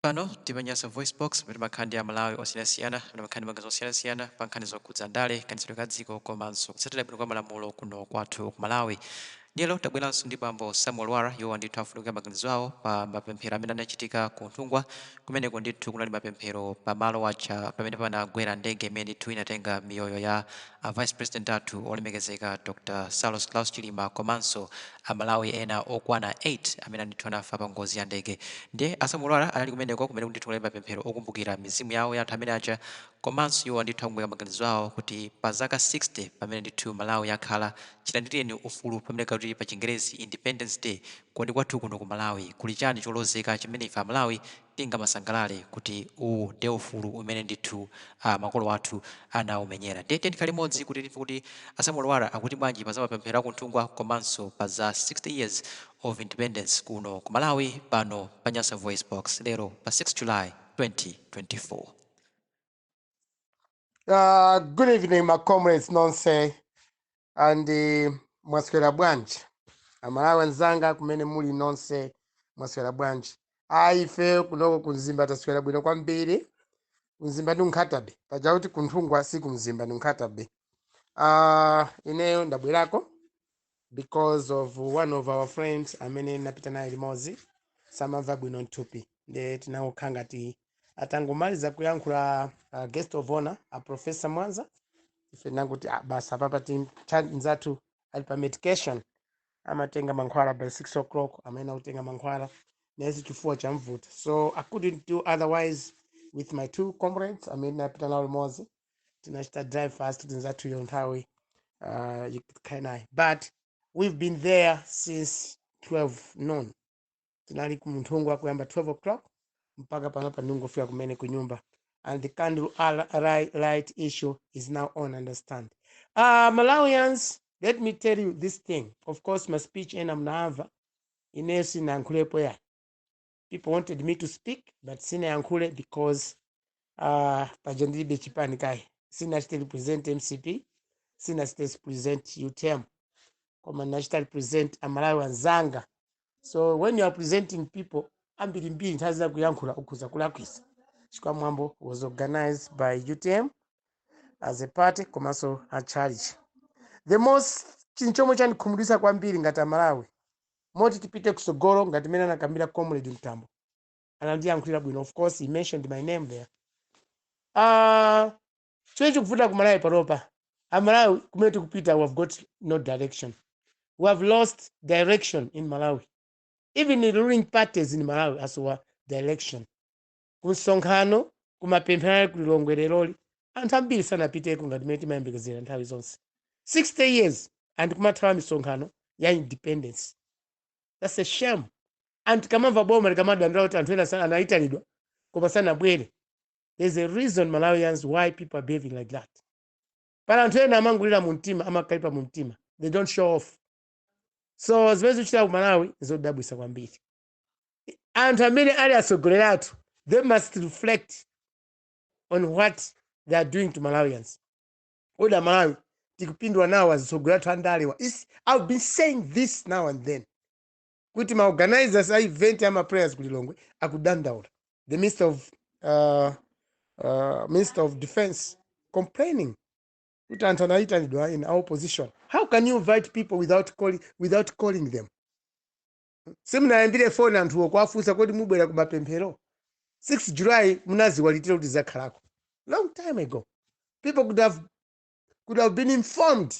Pano tili pa Nyasa VoiceBox, pamene timakhala ndi Amalawi osiyanasiyana amene amakhala ndi maganizo osiyanasiyana pa nkhani zokhudza ndale, kayendetsedwe ka dziko komanso kutsatira bwino kwa malamulo kuno kwathu ku Malawi. Ndiye lero tabweranso ndi bambo Samuel Lwara, iwowa ndithu afunika maganizo awo pa mapemphero amene anachitika ku Nthungwa, kumeneko ndithu kunali mapemphero pa malo aja pamene panagwera ndege imene ndithu inatenga miyoyo ya A Vice President athu olemekezeka Dr Saulos Klaus Chilima komanso a Malawi ena okwana 8 amene ndithu anafa pa ngozi ya ndege ndiye a Samuel Lwara anali kumeneko kumene ndithu kunali mapemphero okumbukira mizimu yawo ya anthu amene aja komanso iwo ndithu akamba maganizo awo kuti pa zaka 60 pamene ndithu Malawi yakhala chilandilireni ufulu pamene timati pa chingerezi Independence Day kodi kwathu kuno ku Malawi kuli chani cholozeka chimene ife a Malawi tingamasangalale kuti uwu nde ufulu umene ndithu makolo athu anaumenyera. Nde tiyeni tikhale limodzi kuti timve kuti a Samuel Lwara akuti bwanji pa za mapemphero a ku Nthungwa komanso pa za 60 years of independence kuno ku Malawi pano pa Nyasa VoiceBox lero pa 6 July 2024. Uh, good evening, my comrades, nonse. and mwaswera bwanji amalawi anzanga kumene muli nonse mwaswera bwanji ayi ife kunoko ku Mzimba taswera bwino kwambiri ku Mzimba ndi Nkhata Bay paja kuti ku Nthungwa si ku Mzimba ndi Nkhata Bay uh, ineyo ndabwerako because of one of our friends amene tinapita naye limodzi samamva bwino mthupi nde tinangokhala ngati atangomaliza kuyankhula uh, guest of honor a professor mwanza ife tinangoti ah, basi apapa tim- cha- mzathu ali pa medication amatenga mankhwala by 6 o'clock amene akutenga mankhwala nayenso chifuwa chamvuta so i couldn't do otherwise with my two comrades amene ndinapita nawo limodzi tinachita drive fast kuti nzathuyo nthawi uh, ikukwana, but we've been there since 12 noon. tinali ku Nthungwa kuyamba 12 o'clock mpaka panopa ndangofika kumene ku nyumba and the candle al- ri- light issue is now on understand uh, malawians let me tell you this thing of course my speech ena munayimva ineyo sinayankhulepo ayi people wanted me to speak but sinayankhule because uh, paja ndilibe chipani kaye sinachite represent mcp sinachite represent utm koma ndinachita represent amalawi anzanga so when you are presenting people ambirimbiri nthawi zina kuyankhula ukhoza kulakwisa chikwa mwambo was organized by utm as a party komanso a church the most chinthu chomwe chandikhumudwitsa kwambiri ngati amalawi moti tipite kutsogolo ngati mene anakambira comrade mtambo anandiyankhulira bwino of course he mentioned my name there uh, chimene chikuvuta ku malawi panopa amalawi kumene tikupita we have got no direction we have lost direction in malawi even the ruling parties in malawi asowa direction kumsonkhano kumapemphero ali ku lilongwe leroli anthu ambiri sanapiteko ngati mmene timayembekezera nthawi zonse 60 years and kumathawa misonkhano ya independence That's a shame. And tikamamva boma likamadandaula kuti anthu ena sa- anaitanidwa koma sanabwere. There's a reason Malawians why people are behaving like that. Pali anthu ena amangolira mu mtima, amakalipa mu mtima. They don't show off. So zimene zikuchitika ku Malawi zodabwisa kwambiri. Anthu amene ali atsogoleri athu, they must reflect on what they are doing to Malawians. koma amalawi tikupindula nawo azitsogoleri athu andalewa i've been saying this now and then kuti ma organizers a event ama prayers ku lilongwe akudandaula the minister of uh, uh, minister of defense complaining kuti anthu anayitanidwa in opposition how can you invite people without calling, without calling them simunawayimbire phone anthuwo kuwafunsa kodi mubwera kumapemphero 6 july munaziwa liti kuti izakhalako long time ago people could have, could have been informed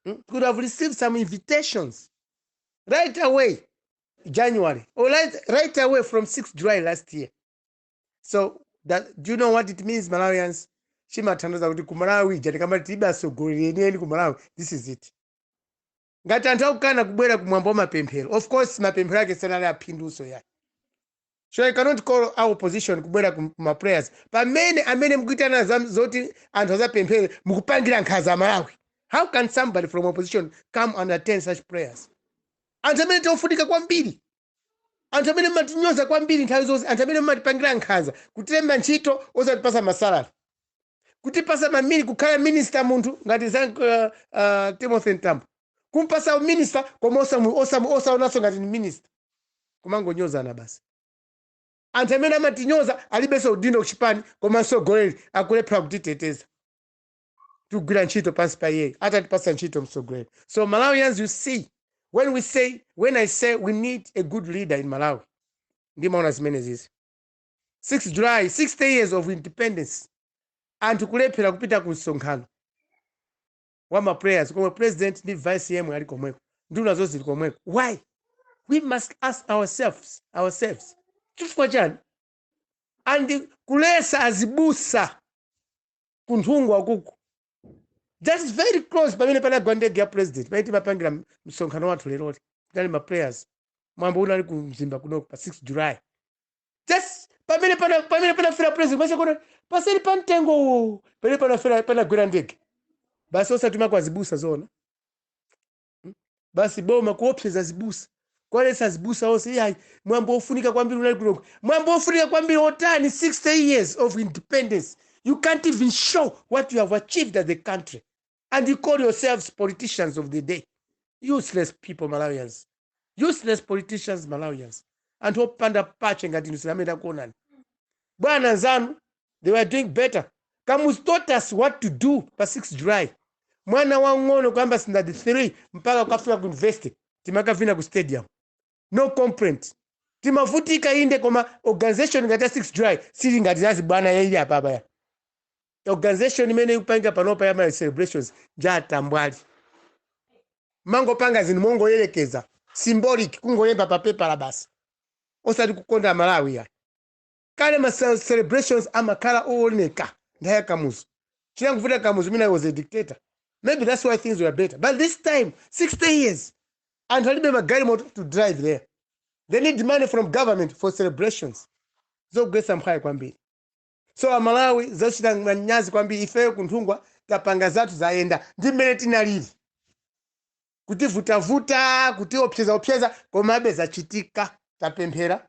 mm, could have received some invitations right away january or right, right away from 6 july last year so do you know what it means malawians chimatanthauza kuti kumalawi ija tikamati tilibe atsogoleri enieni kumalawi this is it ngati anthu akukana kubwera ku mwambo wa mapemphero of course mapemphero ake sanali aphindunso yayi so you cannot call our opposition kubwera ku ku ma prayers pamene amene mukuitana za- zoti anthu azapemphere mukupangira nkhaza amalawi how can somebody from opposition come and attend such prayers anthu amene tiofunika kwambiri anthu amene mumatinyoza kwambiri nthawi zonse anthu amene mumatipangira nkhaza kutilemba ntchito osatipasa masalari kutipasa mamini kukhala minister munthu ngati za uh, uh, timothy mtambo kumpasa uminista koma osamu- osamu- osaonanso ngati ni minista kumangonyozana basi anthu amene amatinyoza alibenso udindo kuchipani koma mtsogoleri akulephera kutiteteza tikugwira ntchito pansi pa iyeyo atatipasa ntchito mtsogoleri so malawians you see when we say when i say we need a good leader in malawi ndimaona zimenezizi 6 july 60 years of independence anthu kulephera kupita ku msonkhano wa ma prayers komwe president ndi vice yemwe ali komweko nduna zonse zili komweko why we must ask ourselves ourselves chifukwa chani and kuletsa azibusa ku nthungwa kuku just very close pamene panagwa ndege ya president pamene timapangira m- msonkhano wathu leroli tinali ma prayers mwambo unali ku mzimba kunoko pa 6 july just pamene pana pamene panafera president basi kona paseri pa mtengo uwu pamene panafera panagwera ndege basi osatuma kaya zibusa zona Hmm? basi boma kuopseza zibusa kuwaletsa zibusa onse iyayi mwambo wofunika kwambiri unali kunoko mwambo wofunika kwambiri otani 60 years of independence you can't even show what you have achieved as a country and you call yourselves politicians of the day useless people malawians useless politicians malawians anthu opanda pake ngati inu sitinakuonani bwana nzanu They were doing better. Kamuzu taught us what to do pa 6 July. Mwana wang'ono kuyamba standard 3 mpaka kukafika ku university timakavina ku stadium. No complaint. Timavutika inde koma organization ngati ya 6 July sili ngati za chibwana yeye apa apa. ya. Organization imene mukupanga panopa ya ma celebrations nja utambwali. Mangopanga zinthu mongoyerekeza symbolic kungolemba pa pepala basi. Osati kukonda Malawi ya. Kale ma celebrations amakhala owoneka nthawi ya Kamuzu. Chinangovuta Kamuzu mwina he was a dictator maybe that's why things were better but this time 60 years anthu alibe magalimoto to drive there. They need money from government for celebrations. Zogwetsa mphwayi kwambiri. So a Malawi zochita manyazi kwambiri ifeyo ku Nthungwa tapanga zathu zayenda ndi mmene tinalili. Kutivutavuta, kutiopsezaopseza komabe zachitika tapemphera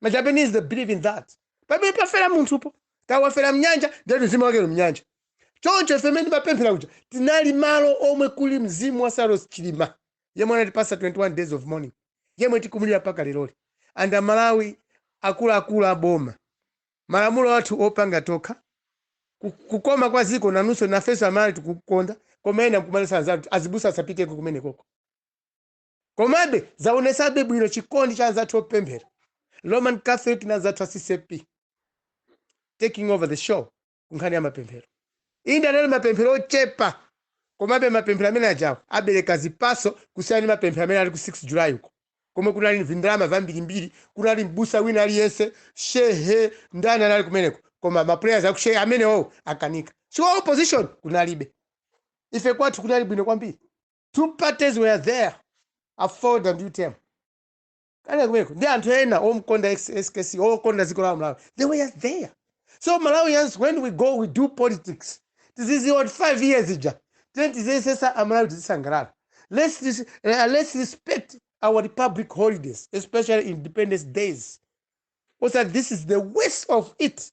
ma japanese they believe in that pamene pafera munthupo kaya wafera mnyanja ndati mzimu wake uli mnyanja choncho ife mmene timapemphera kuja tinali malo omwe kuli mzimu wa Saulos chilima yemwe anatipasa 21 days of mourning yemwe tikumulira mpaka leroli and amalawi akuluakulu aboma malamulo athu opanga tokha ku- kukonda kwa ziko nanunso nafenso amalawi tikulikonda koma ena nkumaletsa anzathu azibusa asapiteko kumenekoko Komabe, zaonetsabe bwino chikondi cha anzathu opemphera, Roman Catholic na anzathu a ccap taking over the show ku nkhani ya mapemphero. Inde anali mapemphero ochepa, komabe mapemphero amene ajawo abereka zipatso kusiyana ndi mapemphero amene anali ku 6 July uko, komwe kunali vindalama vambirimbiri, kunali m'busa wina aliyense, shehe, ndani anali kumeneko, koma ma prayers a ku shehe amenewowo akanika. Chifukwa opposition kunalibe. Ife kwathu kunali bwino kwambiri. two parties were there aford and utm kale kumeko ndi anthu ena omkonda X- skc okonda dziko la malawi they were there so malawians when we go we do politics tiziziwa kuti five years ija then tiziyesesa amalawi tizisangalala let's, dis, uh, let's respect our republic holidays especially independence days osa this is the waste of it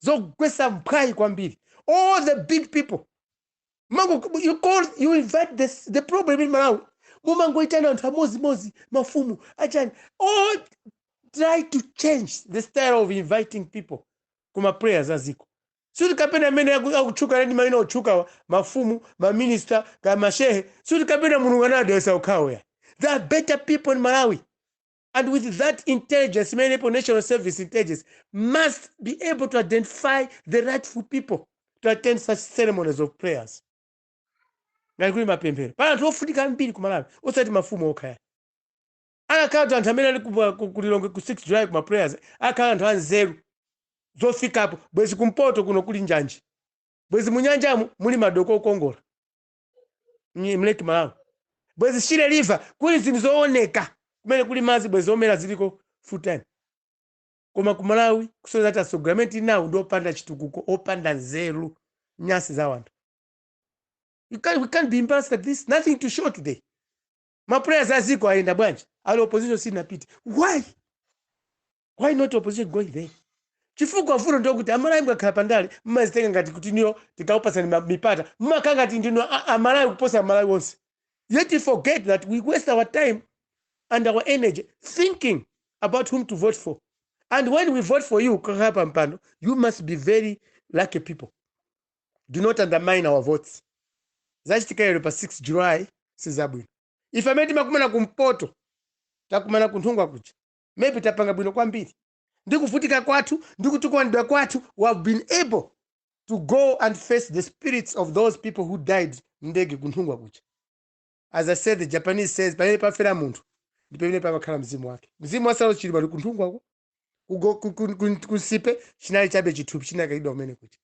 zogwesa mphwayi kwambiri all the big people mango you call you invite the, the problem in malawi mumangoitana anthu amodzimodzi mafumu achani all try to change the style of inviting people kuma prayers aziko sikuti kapena amene aku- akutchuka ndi maina otchukawa mafumu maminista kaya mashehe sikuti kapena mulungu anadalitsa okhawo ayi there are better people in malawi and with that intelligence imene ilipo national service intelligence must be able to identify the rightful people to attend such ceremonies of prayers ngati kuli mapemphero pali anthu ofunika ambiri ku malawi osati mafumu okha ayi akakhala anthu anthu amene ali ku- ku- kulilongwe ku 6 july kuma prayers akakhala anthu anzeru zofikapo bwezi kumpoto kuno kuli njanji bwezi munyanjamu muli madoko okongola Mye- mleki malawi bwezi shire river kuli zinthu zooneka kumene kuli madzi bwezi zomera ziliko full time koma ku malawi kusonyeza kuti atsogoleri amene tinawo ndi opanda chitukuko opanda nzeru nyasi za wanthu You can't- we can't be embarrassed like this nothing to show today ma prayers a ziko ayenda bwanji all opposition sinapite why why not opposition going there chifukwa vuto ndi kuti amalawi mukakhala pandale mmazitenga ngati kuti inuyo tikakupatsani ma- mipata mmakhala ngati ndinu a- amalawi kuposa amalawi onse yet you forget that we waste our time and our energy thinking about whom to vote for and when we vote for you kukakhala pa mpando you must be very lucky people do not undermine our votes zachitika lero pa 6 july sizabwino ife amene timakumana kumpoto takumana kunthungwa kuja maybe tapanga bwino kwambiri ndi kuvutika kwathu ndi kutukwanidwa kwathu we have been able to go and face the spirits of those people who died mndege kunthungwa kuja as i said the japanese says pamene pafera munthu ndi pamene pamakhala mzimu wake mzimu wa saulos chilima uli kunthungwako kugo- ku- ku- ku- kunsipe chinali chabe chithupi chinakayikidwa kumene kuja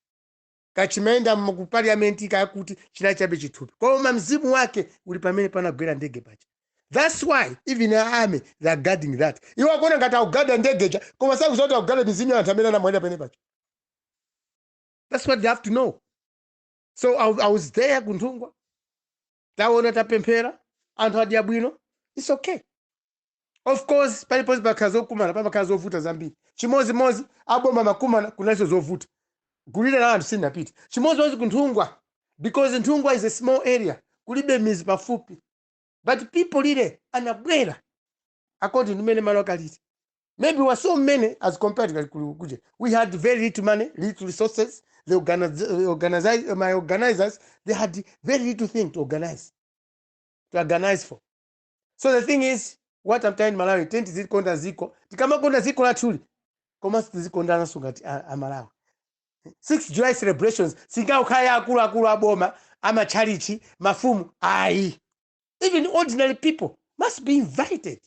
kaya chimayenda mu- ku parliament kaya kuti chinali chabe chithupi koma mzimu wake uli pamene panagwera ndege paja that's why even the army they are guarding that iwo akuona ngati akugada ndege ja koma sakuziwa kuti akugada mizimu ya anthu amene anamwalira pamene paja that's what they have to know so i, I was there kunthungwa taona tapemphera anthu adya bwino its okay of course paliponse pakakhala zokumana pamakhala zovuta zambiri chimodzimodzi aboma makumana kunalinso zovuta gulire la anthu silinapite chimodzimodzi ku nthungwa because nthungwa is a small area kulibe mizi pafupi but people really anabwera according to mmene malo akalili maybe we were so many as compared to Kalikulu kuja we had very little money little resources the organize, organize, ma organizers they had very little thing to organize to organize for so the thing is what I'm telling Malawi tiyeni tizikonda ziko tikamakonda ziko lathuli komanso tizikondana sungati a, a Malawi 6 July celebrations singangokhala akuluakulu aboma amatchalichi mafumu ayi even ordinary people must be invited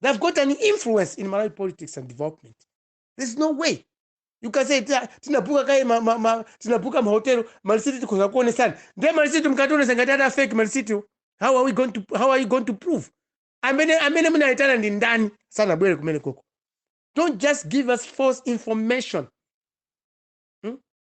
they've got an influence in malawi politics and development there's no way you can say "Tina- tinabuka kaye ma- ma- ma- tinabuka mahotelo malisiti tikhoza kuonesana nde malisiti mkationesa ngati ada fake malisiti how are we going to how are you going to prove amene amene munayitana ndi ndani sanabwere kumene koko don't just give us false information hmm?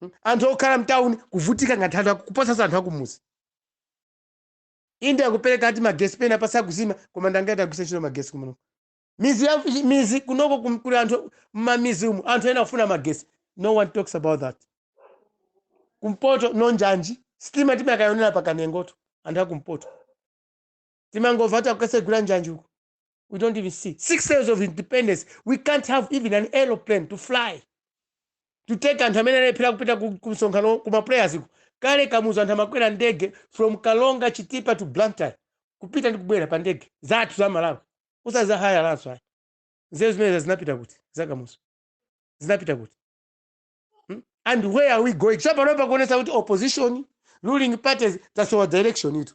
Mm, anthu okhala mtauni kuvutika ngati anthu aku- kuposanso anthu akumuzi inde akupereka ati magesi pena pasakuzima koma ndi angati agwiritsa ntchito magesi kumeneko mizi ya mizi kunoko kum- kuli anthu mmamizi umu anthu ena afuna magesi no one talks about that kumpoto no njanji sitima timakayionera pakanengoto anthu akumpoto timangomva kuti akukasegula njanji uko we don't even see sixty years of independence we can't have even an aeroplane to fly to take anthu amene alephera kupita ku ku msonkhano ku ma prayers uko kale kamuzu anthu amakwera ndege from karonga chitipa to blantyre kupita ndi kubwera pa ndege zathu za malawi usaza haya lanso ayi nzeru zimenezi zinapita kuti zakamuzu zinapita kuti Hmm? and where are we going chapano pakuonesa kuti opposition ruling parties tasowa direction itu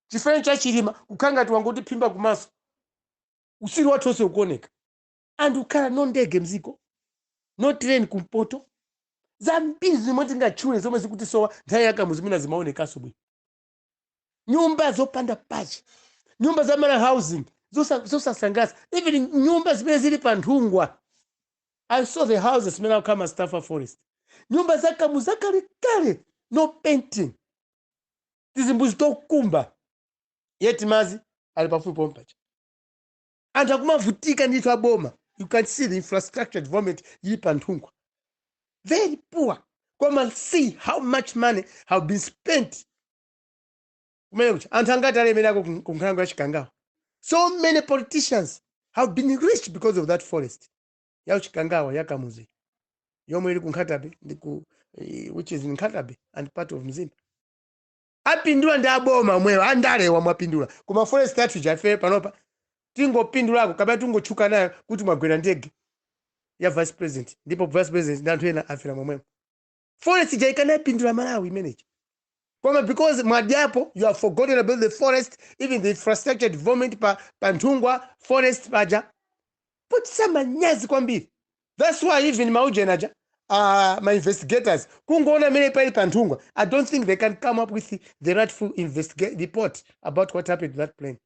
chifereni cha chilima kukhala ngati wangotiphimba kumaso utsiru wathu onse ukuoneka and kukhala no ndege mziko no train kumpoto zambiri zomwe tingatchule zomwe zikutisowa nthawi yakamuzu zimene zimaonekanso bwino nyumba zopanda pachi nyumba za malawi housing zosa- zosasangalatsa even nyumba zimene zili pa nthungwa i saw the houses zimene akukhala ma staff a forest nyumba zakamuzu zakalekale no painting tizimbuzi tokumba yet madzi ali pafupi pompaja anthu akumavutika ndithu aboma you can see the infrastructure development ili pa nthungwa very poor koma see how much money have been spent kumene kuja anthu angati alemererako ku- ku nkhalango ya chikangawa so many politicians have been rich because of that forest ya chikangawa ya kamuzu yomwe ili ku nkhata bay ndi ku eh, which is in nkhata bay and part of mzimba apindula ndi aboma omwewo andalewa mwapindula koma forest yathu ija ife panopa tingopindulako kapena tingotchuka nayo kuti mwagwera ndege ya vice president ndipo vice president ndi anthu ena afera momwemo forest ija ikanapindula malawi imeneyi koma because mwadyapo you have forgotten about the forest even the infrastructure development pa, pa nthungwa forest paja pochititsa manyazi kwambiri Thats why even ma ujeni aja a ma investigators kungoona mmene palili pa nthungwa i don't think they can come up with the rightful investigate report about what happened to that plane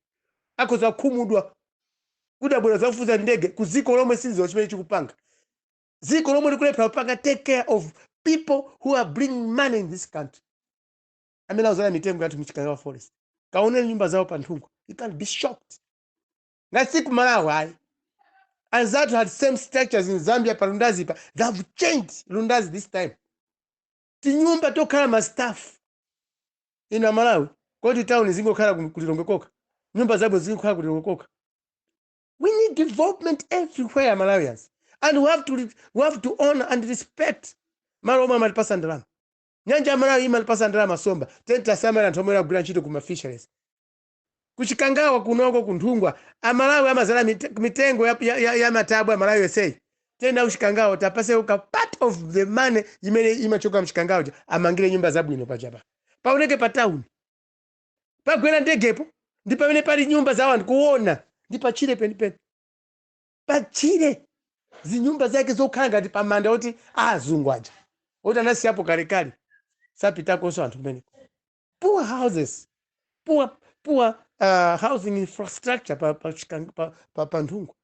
akhoza kukhumudwa kuti abwera kudzafufuza ndege ku dziko lomwe silikudziwa chimene chikupanga dziko lomwe likulephera kupanga take care of people who are bringing money in this country amene akudzala mitengo yathu mchikangawa forest kaoneni nyumba zawo pa nthungwa you can be shocked Ngati si ku Malawi ayi. Anzathu had same structures in Zambia pa Lundazi pa. They have changed Lundazi this time. Tinyumba tokhala ma staff. Inu a Malawi, kodi town zingokhala ku ku Lilongwe kokha? Nyumba zabwino zingokhala ku Lilongwe kokha? We need development everywhere Malawians. And we have to re- we have to honor and respect malo omwe amatipasa ndalama. Nyanja ya Malawi imatipasa ndalama nsomba. Tiyeni tiwasamale anthu omwe akugwira ntchito ku ma fisheries. Ku Chikangawa kunoko ku Nthungwa amalawi amazala mitengo ya, ya, ya, ya matabwa malawi yonseyi tiyeni ku Chikangawa tapaseko ka part of the money imene imachoka mchikangawa uja amangire nyumba zabwino pajapa paoneke pa town pagwera ndegepo ndi pamene pali nyumba za anthu kuona ndi patchire penipeni patchire zinyumba zake zokhala ngati pamanda poti azungu aja oti anasiyapo kalekale sapitakonso anthu kumeneko poor houses poor, poor uh, housing infrastructure pa, pa, Chikang- pa, pa, pa Nthungwa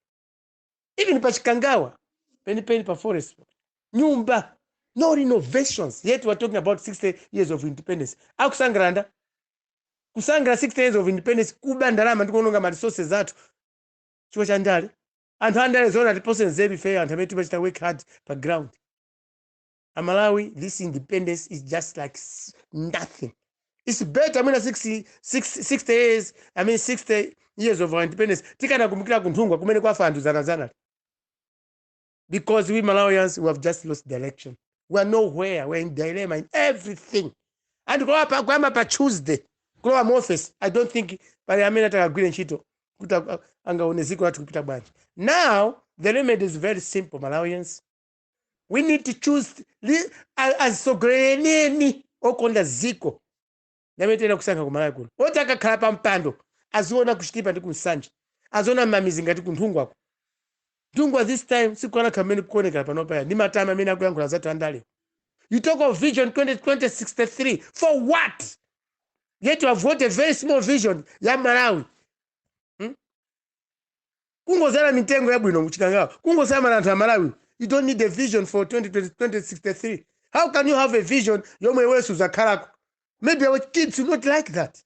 even pa chikangawa penipeni pa forest nyumba no renovations yet we're talking about 60 years of independence akusangalala ndani kusangalala 60 years of independence kuba ndalama ndikuononga ma resources athu chifukwa cha ndale anthu andale zoona tipose nzeru ifeyo anthu amene timachita work hard pa ground amalawi this independence is just like s- nothing its better mwina 60, 60, 60 years i mean 60 years of our independence tikanakumbukira kunthungwa kumene kwafa anthu dzanadzana because we malawians we have just lost direction we are nowhere we are in dilemma in everything and kulowa pa- kuyamba pa tuesday kulowa mu office i don't think pali amene atakagwire ntchito kuti a- angaone ziko lathu kupita bwanji now the remedy is very simple malawians we need to choose li- a- azitsogolereni okonda ziko ndi amene tiyenera kusankha kumalawi kuno oti akakhala pa mpando aziona kuchitipa ndi kumsanje aziona mmamizi ngati kunthungwako Nthungwa this time sikukanakhala mmene kukuonekera panopa ayi ndi matama amene akuyankhula anzathu andale you talk of vision 2063 for what yet you have got a very small vision ya malawi hmm? kungozala mitengo yabwino muchikangawa kungosamala anthu amalawi you don't need a vision for 2020 2063 how can you have a vision yomwe iwe suzakhalako maybe our kids will not like that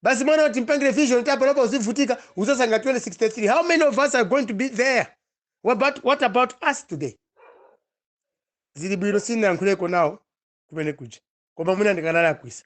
basi mwana wati mpangire vision kuti panopa uzivutika uzasangalala 2063 how many of us are going to be there what about, what about us today zili bwino sinayankhuleko nawo kumene kuja koma mwina ndikanalakwisa